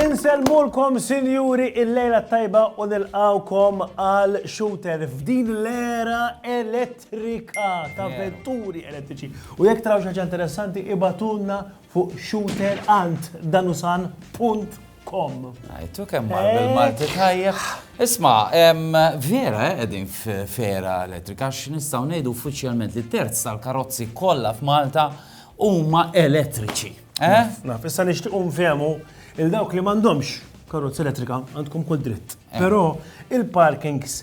Insellmulkom sinjuri il-lejla tajba u nilqawkom għal shooter f'din l-era elettrika ta' vetturi elettriċi. U jekk taraw xi ħaġa interessanti ibatunna fuq shooterantdanusan.com. Għajtu kemm mar bil-Malti tajjeb. Isma, vera eh, qegħdin f'era elettrika għax nistgħu ngħidu uffiċjalment li terz tal-karozzi kollha f'Malta huma elettriċi. Eh? Naf, issa nixtiequ nfehmu il dawk li m'għandhomx karozza elettrika għandkom kull dritt. Eh. Però il-parkings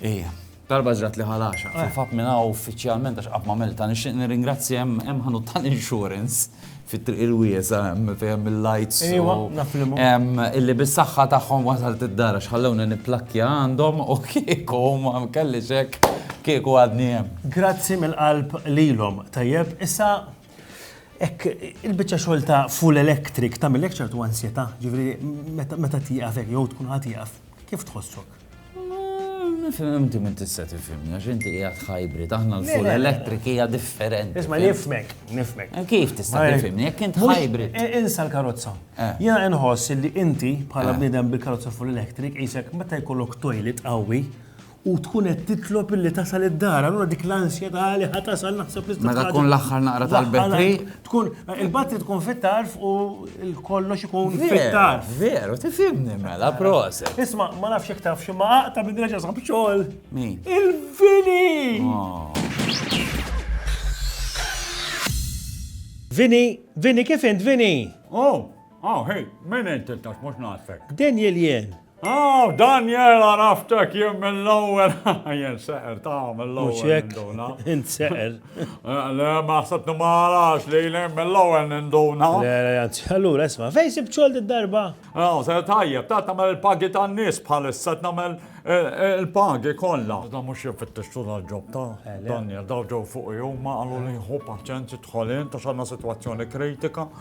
Ejja. Darba ġrat li ħalaxa. Kif għadt minn hawn uffiċjalment għax qatt m'għamiltha, nixtieq nirringrazzja hemm hemm ħanut tal-insurance fit-triq il-wiesgħa hemm fejn hemm il-lights u. Ejwa, naf liema. Hemm illi bis-saħħa tagħhom wasalt id-dar għax ħallewni nipplakkja għandhom u kieku ma kellix hekk kieku għadni hemm. Grazzi mill-qalb lilhom. Tajjeb, issa hekk il-biċċa xogħol ta' full electric tagħmillek ċertu ansjetà, jiġifieri meta meta tieqaf hekk jew tkun ħa tieqaf, kif tħossok? Nifhem inti minn tista' tifhimni għax inti qiegħed hybrid, aħna l-full electric hija differenti. Isma' nifmek, nifmek. Eh, kif tista' tifhimni jekk int hybrid? Eh, insa l-karozza. Eh. Jiena inħoss li inti bħala bniedem bil-karozza full electric qisek meta jkollok toilet qawwi u tkun qed titlob illi tasal id-dar, allura dik l-ansjetà li ħa tasal naħseb li Meta tkun l-aħħar naqra tal-betri, Tkun, il-batri tkun fit-tarf u l-kollox ikun fit-tarf. Veru, tifimni mela, prosa. Isma, ma nafx jek taf ximma għaqta minn reġa sab xol. Min? Il-vini! Oh. Vini, vini, kif int, vini? Oh, oh, hej, minn int il-tax, mux nasfek. Daniel jien, Aw, Daniel, għaraftek jien mill-ewwel. Jien seqer ta' mill-ewwel. Mhux hekk, int seqer. Le, ma ħsebni ma għarax li jien mill-ewwel ninduna. Le, le, anzi, allura isma' fejn sib xogħol darba? Aw, se tajjeb, ta' tagħmel il-pagi tan-nies bħalissa tagħmel il-pagi kollha. Da mhux jifittex tul għall-ġob ta' Daniel, daw ġew fuq huma qalu li jħu paċenzi tħolin ta' xanna sitwazzjoni kritika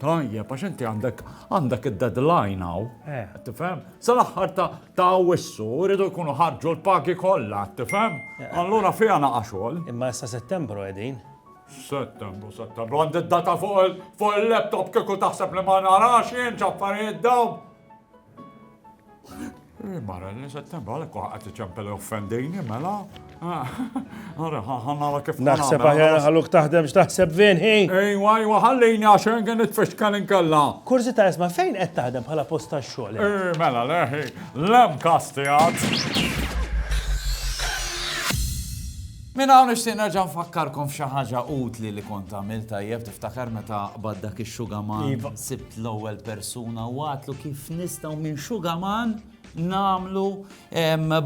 Tajjeb, għax inti għandek għandek id-deadline għaw. Eh. Tifhem? Sal-aħħar ta' wissu rridu jkunu ħarġu l-pagi kollha, tifhem? Eh. Allura fiha naqa' xogħol. Imma issa Settembru qegħdin. Settembru, Settembru, għandi d-data fuq il-laptop kieku taħseb li ma narax jien ġaffarijiet dawn. Mara, li settembru għalek għat iċempel offendini, mela. Għara, għanna kif. Naħseb għahjar għalluk taħdem x'taħseb vinħi. Ejwa, ejwa, għallini għaxen għen it-fixkan inkella. Kurzi ta' jisma fejn qed taħdem bħala posta xogħol. Eh, mela, leħi, lem kasti għad. Min hawn nixtieq nerġa' nfakkarkom f'xi ħaġa utli li kont għamil tajjeb tiftakar meta baddak ix-xugaman iva. l-ewwel persuna u għatlu kif nistgħu minn xugaman nagħmlu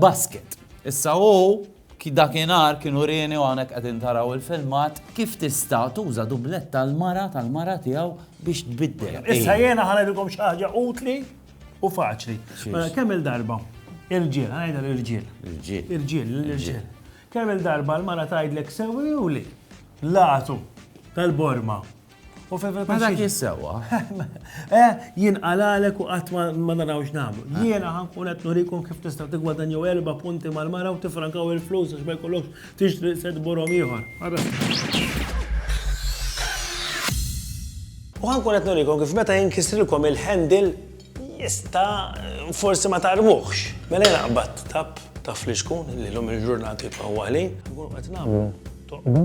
basket. Issa hu dakinhar kienu rieni u hawnhekk qegħdin taraw il-filmat kif tista' tuża dublet tal-mara tal-mara tiegħu biex tbiddel. Issa jiena ħanedikom xi ħaġa utli u faċli. Mela, kemm il-darba? Il-ġiel, ħanajda l-ġiel. Il-ġiel. Il-ġiel, il-ġiel. Kemm il-darba l-mara tgħidlek sewi u li? Latu tal-borma. U fejn Ma dak jissewa. Eh, jien għalalek u qatt ma narawx nagħmlu. Ah. Jiena ħankun qed nurikom kif tista' tigwadanjaw erba' punti mal-mara u tifrankaw il-flus għax ma jkollokx tixtri set borhom ieħor. U ħankun qed nurikom kif meta jinkisrilkom il-handle Jista' forsi ma tagħrfuhx. Mela jien qabadt tapp ta' fliexkun li llum il-ġurnata jibqa' huwa ħli. Inkunu qed nagħmlu toqba.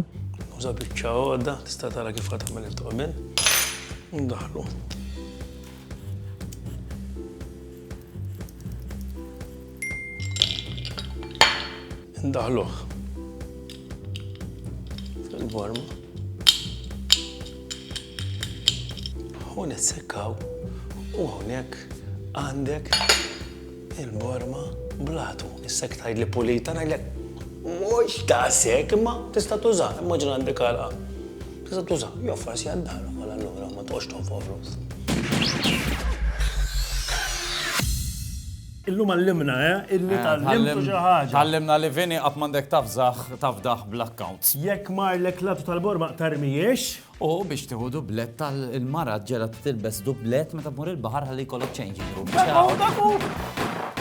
Nuża biċċa għodda, tista' tara kif qed tagħmel it-toqbien. Ndaħħlu. Ndaħluh fil-vorma. U nissekkaw u hawnhekk għandek il-borma blatu. Issek tajd li pulita ngħidlek mhux ta' sek imma tista' tuża, immaġina għandek għalqa. Tista' tuża, jew forsi għaddar għal allura ma tqgħodx tonfoq flus. Illum għallimna, eh? Illi tgħallimtu xi ħaġa. Tgħallimna li Vini qatt m'għandek tafżaħ tafdaħ bl-accounts. Jekk marlek l-għatu tal-borma tarmijiex. U biex tieħu dublett tal-mara ġela tilbes dublett meta tmur il-baħar ħalli jkollok change. Dak hu, dak hu!